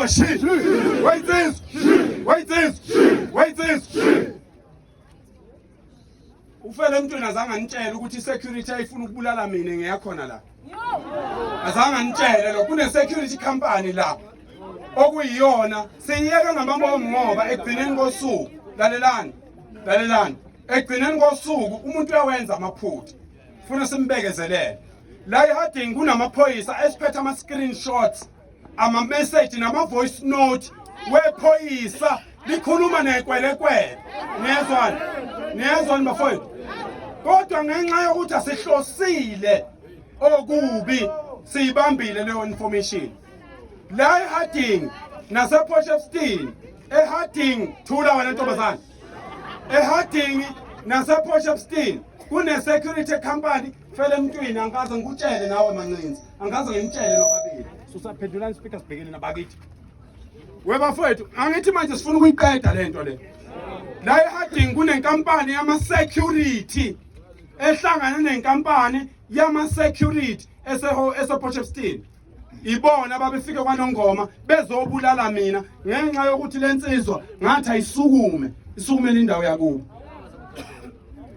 Shit! Wait this! Wait this! Wait this! Ufele emntwini azange anitshele ukuthi i-security ayifuna ukubulala mina ngiyakhona la. Azange anitshele lo kune-security company la okuyiyona siyiyeka ngamabomu ngoba ekugcineni kosuku lalelani lalelani ekugcineni kosuku umuntu uyawenza amaphutha funa simbekezelele la iharding kunamaphoyisa esiphethe ama-screenshots amameseji nama-voice note wephoyisa likhuluma nekwelekwele niyezwani niyezwani bafowethu kodwa ngenxa yokuthi asihlosile okubi siyibambile leyo information la eharding naseposhefstin eharding thula wena ntombazane eharding naseposhefstin kune-security company fele emntwini angikaze ngikutshele nawe mancinzi angaze ngimtshele nobabili susaphendulani speaker sibhekene nabakithi webafowethu angithi manje sifuna ukuyiqeda le nto le la eharding kunenkampani yama-security ehlangane nenkampani yama-security esepotshepston ibona babefike kwanongoma bezobulala mina ngenxa yokuthi le nsizwa ngathi ayisukume isukumele indawo yakubo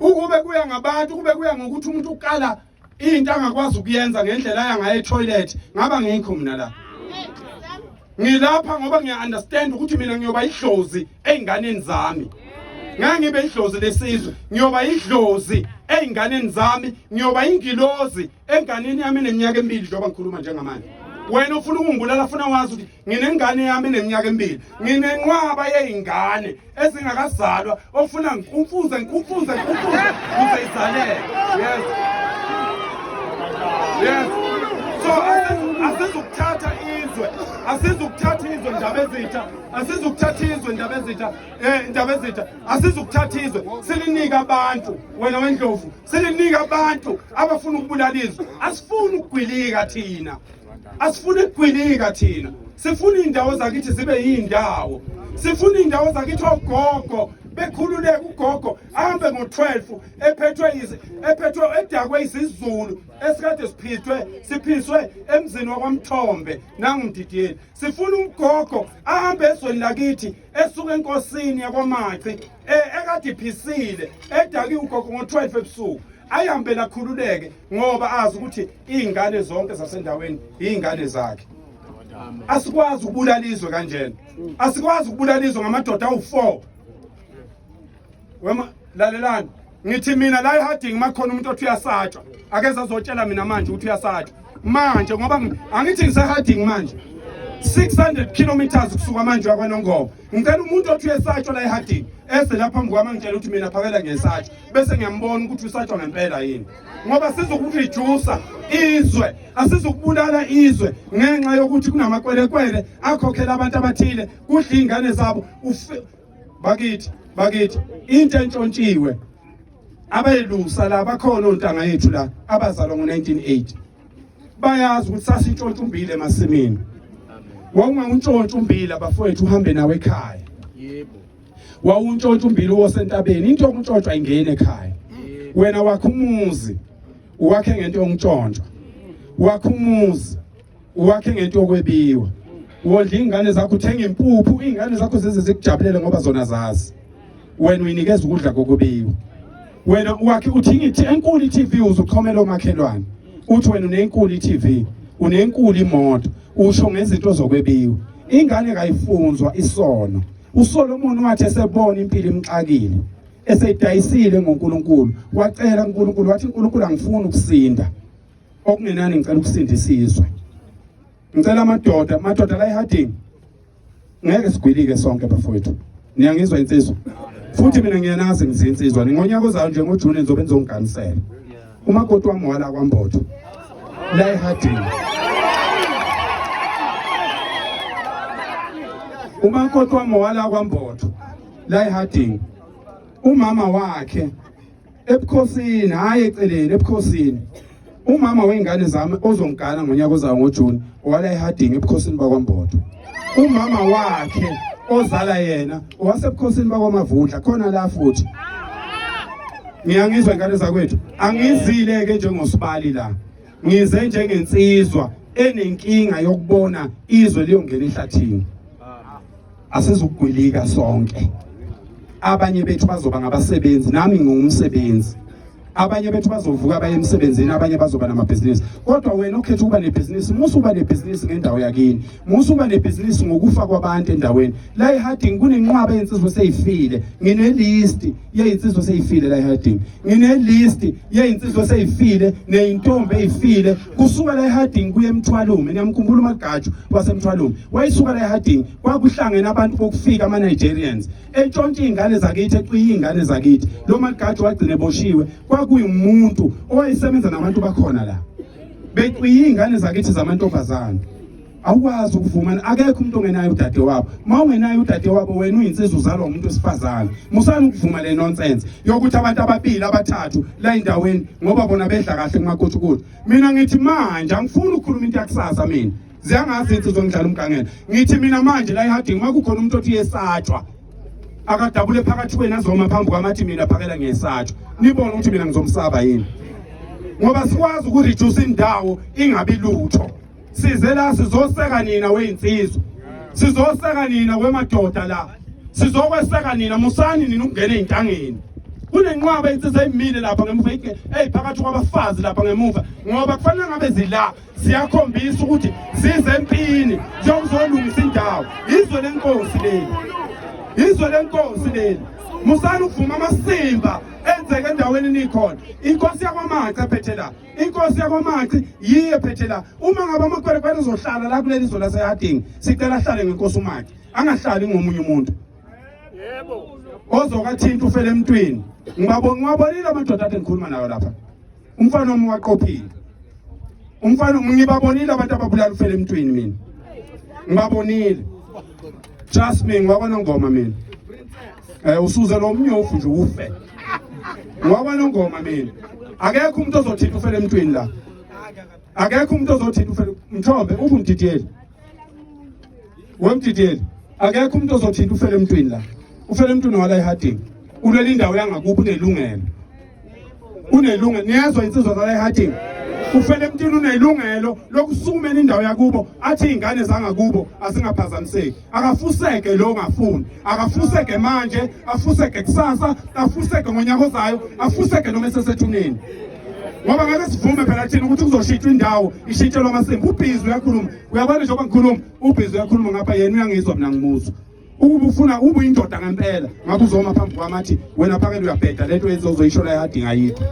ukube kuya ngabantu ukube kuya ngokuthi umuntu ukala into angakwazi ukuyenza ngendlela yangaye etoilet ngaba ngikho mina la ngilapha ngoba ngiya-understand ukuthi mina ngiyoba idlozi ey'nganeni zami ngeke ngibe idlozi lesizwe ngiyoba idlozi ey'nganeni zami ngiyoba ingilozi enganeni yami eneminyaka emibili njengoba ngikhuluma njengamanje wena ufuna ukungibulala funa wazi ukuthi nginengane yami eneminyaka emibili nginenqwaba yey'ngane ezingakazalwa okufuna ngikumfuze ngikumfuze ngikumfuze kuze izaleke yes yes so asizukuthatha izwe asizukuthatha izwe ndaba ezitha asizukuthatha izwe ndaba ezitha eh ndaba ezitha asizukuthatha izwe silinika abantu wena wendlovu silinika abantu abafuna ukubulala izwe asifuni ukugwilika thina asifuni kugwinika thina sifuna iy'ndawo zakithi zibe yiy'ndawo sifuna iy'ndawo zakithi ogogo bekhululeke ugogo ahambe ngo-12 ephethwe ephethwe edakwe isizulu esikade siphithwe siphiswe emzini wakwamthombe nangumdidiyeli sifuna umgogo ahambe ezweni lakithi esuke enkosini yakwamaci e, ekade iphisile edakiwe ugogo ngo-12 ebusuku ayihambe lakhululeke ngoba azi ukuthi iy'ngane zonke zasendaweni iy'ngane zakhe asikwazi ukubulala izwe kanjena asikwazi ukubulala izwe ngamadoda awu-four wema lalelani ngithi mina la eharding makhona umuntu othi uyasatshwa akeze azotshela mina manje ukuthi uyasatshwa manje ngoba angithi ngiseharding manje 600 kilometers kusuka manje wakwanongoba Ngicela umuntu othi esatshwa la ehadini ese lapha phambi kwami ngitshela ukuthi mina phakela ngesatsho bese ngiyambona ukuthi usatshwa ngempela yini ngoba sizokureducer izwe asizokubulala izwe ngenxa yokuthi kunamakwelekwele akhokhela abantu abathile kudla iy'ngane zabo bakithi bakithi into entshontshiwe abelusa la bakhona ontanga yethu la abazalwa ngo-1980 bayazi ukuthi sasintshontsha umbili emasimini wawungawuntshontsha umbili abafowethu uhambe nawe ekhaya yebo wawuntshontsha umbili wosentabeni into yokuntshontshwa ingene ekhaya wena wakho umuzi uwakhe ngento yokuntshontshwa wakho umuzi uwakhe ngento yokwebiwa wondla ingane zakho uthenga impuphu ingane zakho zize zikujabulele ngoba zona zazi wena uyinikeza ukudla kokubiwa wena wakhe uthi ngithi enkulu iTV uzuchomela omakhelwane uthi wena unenkulu iTV unenkulu imoto usho ngezinto zokwebiwa ingane kayifunzwa isono uSolomon wathi esebona impilo imxakile esedayisile ngoNkulunkulu wacela uNkulunkulu wathi uNkulunkulu angifuni ukusinda okungenani ngicela ukusinda isizwe ngicela amadoda amadoda la eHarding ngeke sigwilike sonke bafowethu niyangizwa insizwa futhi mina ngiyanazi ngizinsizwa ngonyaka ozayo nje ngojuni ngizobe ngizongiganisela umakoti wami wala kwambotho la ehadini umakoti wami wala kwambotho la ehadini umama wakhe ebukhosini hayi eceleni ebukhosini umama wey'ngane zami ozongigana ngonyaka ozayo ngojuni owala ehadingi ebukhosini bakwambodo umama wakhe ozala yena owasebukhosini bakwamavundla khona la futhi ngiyangizwa ingane zakwethu angizile-ke njengosibali la ngize njengensizwa enenkinga yokubona izwe liyongena ehlathini asizugwilika sonke abanye bethu bazoba ngabasebenzi nami ngingumsebenzi abanye bethu bazovuka baye emsebenzini abanye bazoba namabhizinisi kodwa wena ukhetha ukuba nebhizinisi musa uba nebhizinisi ngendawo yakini musa uba nebhizinisi ngokufa kwabantu endaweni la eharding kunenqwaba yensizwa eseyifile nginelisti yeyinsizwa seyifile la eHarding nginelist yeyinsizwa seyifile neyintombi eyifile kusuka la eHarding kuye emthwalume niyamkhumbula umagatshu wasemthwalume wayisuka la eHarding kwakuhlangene abantu bokufika ama Nigerians entshontshe izingane zakithi eqiye izingane zakithi lo magatshu wagcine eboshiwe kwakuyimuntu owayesebenza nabantu bakhona la beqiye izingane zakithi zamantombazana awukwazi ukuvumana akekho umuntu ongenayo udade wabo uma ungenayo udade wabo wena uyinsizwa uzalwa umuntu wesifazane musani ukuvuma le nonsense yokuthi abantu ababili abathathu la endaweni ngoba bona bedla kahle kumakuthukuthu mina ngithi manje angifuni ukukhuluma into yakusasa mina ziyangazi insizwa ngidlala umgangela ngithi mina manje la eharding uma kukhona umuntu othi yesatshwa akadabule phakathi kwenu azoma phambi kwamathi mina phakela ngiyesatshwa nibone ukuthi mina ngizomsaba yini ngoba sikwazi ukureduce indawo ingabi lutho size la sizoseka nina weyinsizwa sizoseka nina kwemadoda la sizokweseka nina musani nina ukungena ezintangeni kunenqwaba insizwa emile lapha ngemuva eyiphakathi kwabafazi lapha ngemuva ngoba kufanele ngabe zila siyakhombisa ukuthi size empini siyokuzolungisa indawo izwe lenkosi leli izwe lenkosi leli musani ukuvuma amasimba enzeke endaweni nikhona inkosi yakwamaca ephethe la inkosi yakwamaci yiye phethe la uma ngabe amakwerekwere ezohlala la kuleli zwe lasehadingi sicela ahlale ngenkosi umaci angahlali ngomunye umuntu ozokathinta ufele emntwini ngiwabonile amadoda ade ngikhuluma nayo lapha umfana omi waqophile umfana ngibabonile abantu ababulala ufele emntwini mina ngibabonile trust me ngwakwanongoma mina um usuze lo mnyofu nje ufe ngwakwanongoma mina akekho umuntu ozothinta ufele emntwini la akekho umuntu ozothinta ufele mthombe ubumdidiyeli wemdidiyeli akekho umuntu ozothinta ufele emntwini la ufele emntwini wala ehadini ulwela indawo yangakuphi unelungelo unelungelo niyezwa insizwa zala ehadini ufele emntwini unelungelo lokusukumela indawo yakubo athi iy'ngane zangakubo azingaphazamiseki akafuseke lo ngafuni akafuseke manje afuseke kusasa afuseke ngonyaka ozayo afuseke noma esesethuneni ngoba ngeke sivume phela thina ukuthi kuzoshintshwa indawo ishintshelwa amasimba ubhizi uyakhuluma uyabona njengoba ngikhuluma ubhizi uyakhuluma ngapha yena uyangizwa mina ngimuzwa ukuba ufuna ube uyindoda ngempela ngabe uzoma phambi kwami athi wena phakele uyabheda lento yenze uzoyisho la yadinga yikho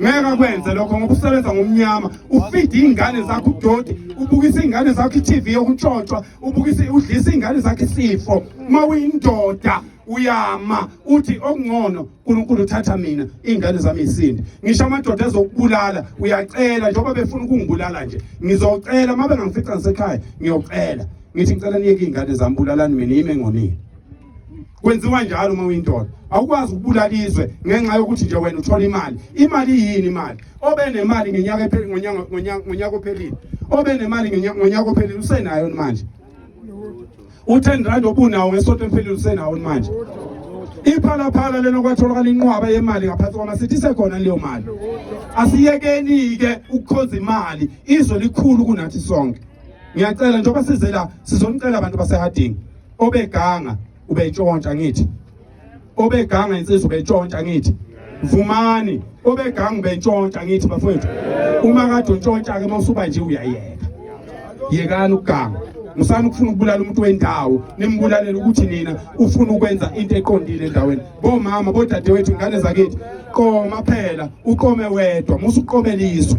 ngeke kwenze lokho ngoba usebenza ngomnyama ufide iy'ngane zakho udoti ubukisa iy'ngane zakho i-tv yokuntshontshwa ubukisa udlisa iy'ngane zakho isifo uma uyindoda uyama uthi okungcono uNkulunkulu uthatha mina izingane zami isindi ngisho amadoda ezokubulala uyacela njengoba befuna ukungibulala nje ngizocela uma bengangifica ngisekhaya ngiyocela ngithi ngicela niyeke iy'ngane zami bulalani mina yimi engonile kwenziwa njalo uma uyindoda awukwazi ukubulala izwe ngenxa yokuthi nje wena uthola imali imali yini imali obe nemali ngenyaka epheli ngonyaka ngonyaka ngonyaka ophelile obe nemali ngonyaka ophelile usenayo manje u10 rand obunawo ngesonto emphelile usenawo manje iphalaphala lena kwatholakala inqwaba yemali ngaphansi kwamasithi isekhona leyo mali asiyekeni-ke ukukhonza imali izwe likhulu kunathi sonke ngiyacela njengoba size la sizonicela abantu basehading obeganga ubetshontsha ngithi obeganga insizwa ubetshontsha ngithi vumani obeganga ubentshontsha ngithi bafowethu uma kade untshontsha ke mawusuba nje uyayeka yekani ukuganga musani ukufuna ukubulala umuntu wendawo nimbulalela ukuthi nina ufuna ukwenza into eqondile endaweni bomama bodadewethu ingane zakithi qoma phela uqome wedwa musuqomeliswe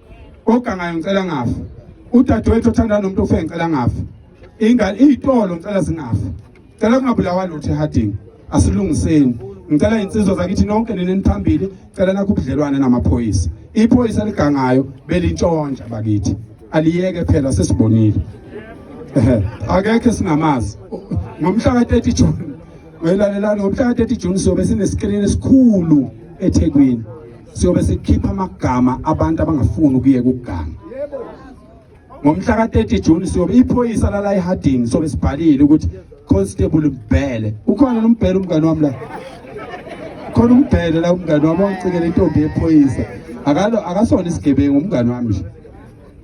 ogangayo ngicela ngafa udadewethu othanda nomuntu ofe ngicela ngafa ingane iyitolo ngicela zingafa cela kungabulawa lutho ehadini asilungiseni ngicela insizwa zakithi nonke neneniphambili cela nakho ubudlelwane namaphoyisa iphoyisa ligangayo belintshontsha bakithi aliyeke phela sesibonile ehe akekho singamazi ngomhla ka-30 June welalelani ngomhla ka-30 June sobe sinesikrini esikhulu eThekwini siyobe sikhipha amagama abantu abangafuni ukuyeka ukuganga ngomhla ka-30 juni siyobe iphoyisa lala eharding sobe sibhalile ukuthi constable mbhele ukhona nombhele umngane wami la khona umbhele la umngane wami wangicikela intombi yephoyisa akalo akasona isigebengu umngane wami nje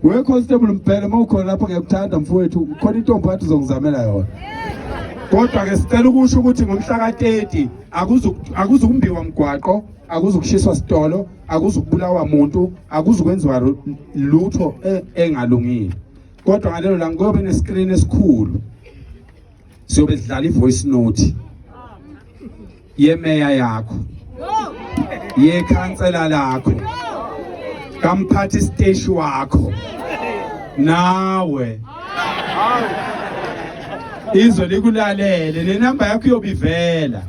we constable mbhele uma ukhona lapho ngiyakuthanda mfowethu khona intombi wathi uzongizamela yona kodwa-ke sicela ukusho ukuthi ngomhla ka-30 akuzukumbiwa mgwaqo akuzukushiswa sitolo akuzukubulawa muntu akuzukwenziwa lutho e, engalungile kodwa ngalelo langa kuyobe nescreen esikhulu siyobe sidlala ivoice note yemeya yakho yekhansela lakho kamphathi station wakho nawe izwe likulalele le namba yakho iyobivela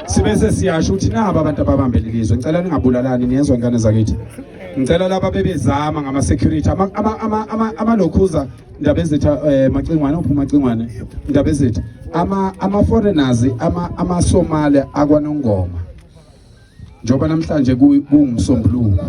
sibese siyasho ukuthi nabo abantu ababambele lizwe ngicela ningabulalani niyezwa ingane zakithi ngicela laba bebezama ngama security ama ama ama ama amalokhuza indaba ezithi eh, macingwane uphuma macingwane indaba ezithi ama ama foreigners ama ama Somali akwanongoma njoba namhlanje kungumsombuluko